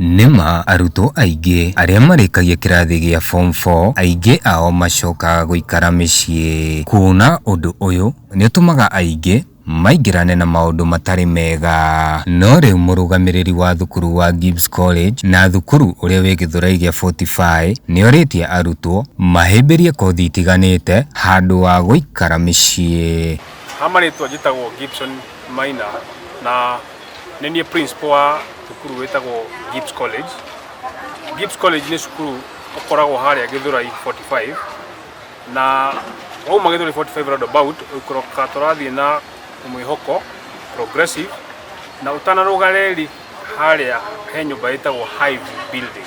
Nĩ ma arutwo aingĩ arĩa marĩkagia kĩrathi gĩa form four aingĩ ao macokaga gũikara mĩciĩ. Kuona ũndũ ũyũ nĩ ũtũmaga aingĩ maingĩrane na maũndũ matarĩ mega. No rĩu mũrũgamĩrĩri wa thukuru wa Gibbs College na thukuru ũrĩa wĩ Gĩthũrai gĩa Fortify nĩ orĩtie arutwo mahĩmbĩrie kothi itiganĩte handũ wa gũikara mĩciĩ. Ha marĩtwa njĩtagwo Gibson Maina na. nĩ niĩ principal wa cukuru wĩtagwo Gibbs College. Gibbs College nĩ cukuru ũkoragwo harĩa Gĩthũrai 45 na wauma Gĩthũrai 45 roundabout ũikũrũka tũrathiĩ na mwĩhoko progressive na ũtanarũga reri harĩa he nyũmba ĩtagwo Hive Building.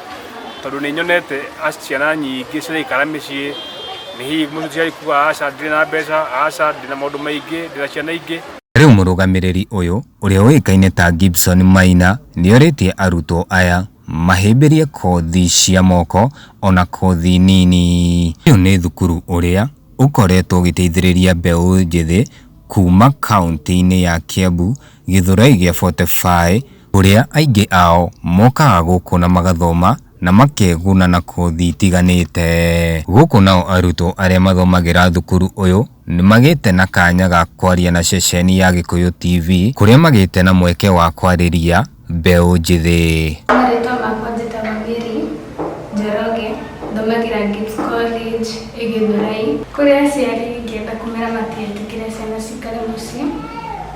tondå nä nyonete ciana nyingä ciraikara mä ciä nä hihi må ciari kuga aca ndirä na mbeca aca ndä na maå ndå maingä ndä na ciana ingä Rĩu mũrũgamĩrĩri ũyũ ũrĩa ũĩkaine ta Gibson Maina nĩorĩtie arutwo aya mahĩmbĩrie kothi cia moko ona kothi nini. Ũyũ nĩ thukuru ũrĩa ũkoretwo ũgĩteithĩrĩria mbeũ njĩthĩ kuma kaunti-inĩ ya Kiambu, Gĩthũrai gĩa 45, kũrĩa aingĩ ao mokaga gũkũ na magathoma na makeguna na kothi itiganĩte. Gũkũ nao arutwo arĩa mathomagĩra thukuru ũyũ nĩ magĩte na kanya ga kwaria na ceceni ya Gĩkũyũ TV kũrĩa magĩte na mweke wa kwarĩria mbeũ njĩthĩ. Marĩtwa makwa njĩtagwo Mary Njoroge, thomagĩra Gift College ĩ Gĩthurai. Kũrĩ aciari ingĩenda kũmera matigetĩkĩre ciana cikare mũciĩ,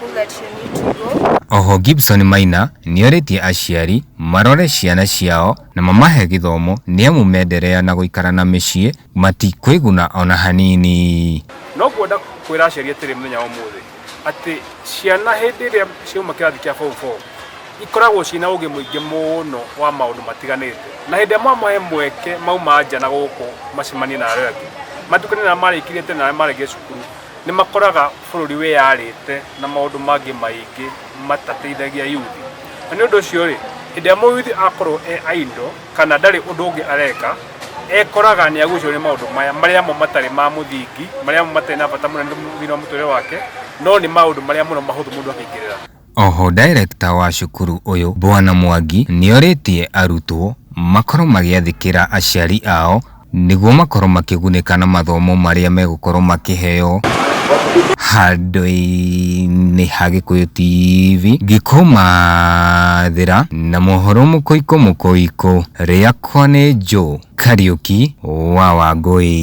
who that you need to go. Oho Gibson Maina nĩorĩtie aciari marore ciana ciao na mamahe gĩthomo nĩamu menderea na gũikara na mĩciĩ matikwĩguna ona hanini. No ngwenda kwĩra aciari atĩrĩ mũthenya wa ũmũthĩ atĩ ciana hĩndĩ ĩrĩa ciauma kĩrathi kĩa form four ikoragwo ciĩna ũgĩ mũingĩ mũno wa maũndũ matiganĩte na hĩndĩ ĩrĩa mwamahe mweke mauma nja na gũkũ macemanie na arĩa angĩ matukane na arĩa marĩkirĩte na arĩa marĩkia cukuru Nĩ makoraga bũrũri wĩyarĩte na maũndũ mangĩ maingĩ matateithagia yuthi. Na nĩ ũndũ ũcio rĩ, hĩndĩ ĩrĩa mũyuthi akorwo e idle kana ndarĩ ũndũ ũngĩ areka, ekoraga nĩ agucĩrĩrio nĩ maũndũ maya marĩa mo matarĩ ma mũthingi, marĩa mo matarĩ na bata mũnene thĩinĩ wa mũtũrĩre wake, no nĩ maũndũ marĩa mũno mahũthũ mũndũ akĩingĩrĩra. Oho director wa cukuru ũyũ Bwana Mwangi nĩorĩtie arutwo makorwo magĩathĩkĩra aciari ao nĩguo makorwo makĩgunĩka na mathomo marĩa megũkorwo makĩheo handũ-inĩ ha Gĩkũyũ TV ngĩkũmathĩra na mohoro mũkũikũ mũkũikũ. Rĩakwa nĩ Joe Kariũki wa Wangũi.